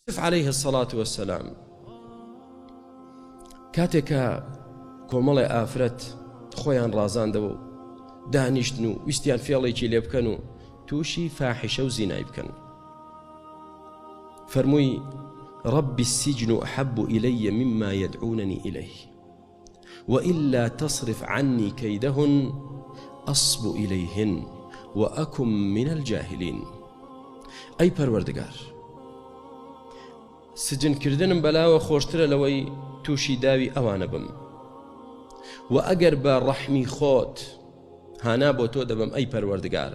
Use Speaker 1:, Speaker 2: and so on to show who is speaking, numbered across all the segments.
Speaker 1: یوسف عەلەیه سەڵات وەسەلام کاتێکە کۆمەڵێ ئافرەت خۆیان ڕازاندەوە و دانیشتن و ویستیان فێڵێکی لێ بکەن و تووشی فاحیشە و زینای بکەن فەرمووی ڕبی سیجن و حەب و ئیلەیە مما یدعوننی ئیلەی وإلا تصرف عنی کیدهن اصب الیهن وأکن من الجاهلین ئەی پەروەردگار سجن کردنم بەلاوە خۆشترە لەوەی تووشی داوی ئەوانە بم و ئەگەر بە ڕەحمی خۆت هانا بۆ تۆ دەبم ئەی پەروەردگار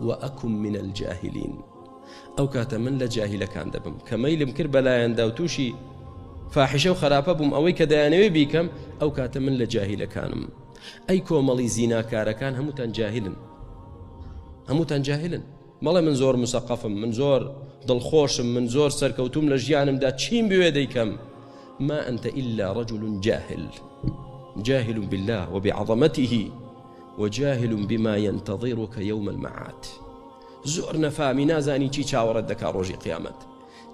Speaker 1: و اکن من الجاهلین ئەو کاتە من لە جاهیلەکان دەبم کە مەیلم کرد بە لایەندا و تووشی فاحشە و خراپە بووم ئەوەی کە دەیانەوێ بیکەم ئەو کاتە من لە جاهیلەکانم ئەی کۆمەڵی زیناکارەکان هەمووتان جاهلن هەمووتان جاهلن مەڵێ من زۆر مسەقەفم من زۆر دڵخۆشم من زۆر سەرکەوتوم لە ژیانمدا چیم بوێ دەیکەم ما أنت إلا رجل جاهل جاهل بالله وبعظمته وجاهل بما ینتظرک یوم المعاد زۆر نەفامی نازانی چی چاوەڕێت دەکا ڕۆژی قیامەت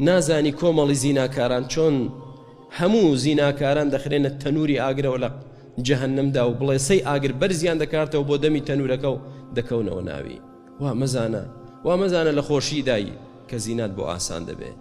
Speaker 1: نازانی کۆمەڵی زیناکاران چۆن هەموو زیناکاران دەخرێنە تەنووری ئاگرەوە لە جەهنمدا و بڵێسەی ئاگر بەرزیان دەکاتەوە بۆ دەمی تەنورەکە و دەکەونەوە ناوی وا مەزانە وا مەزانە لە خۆشیدای کە زینات بۆ ئاسان دەبێت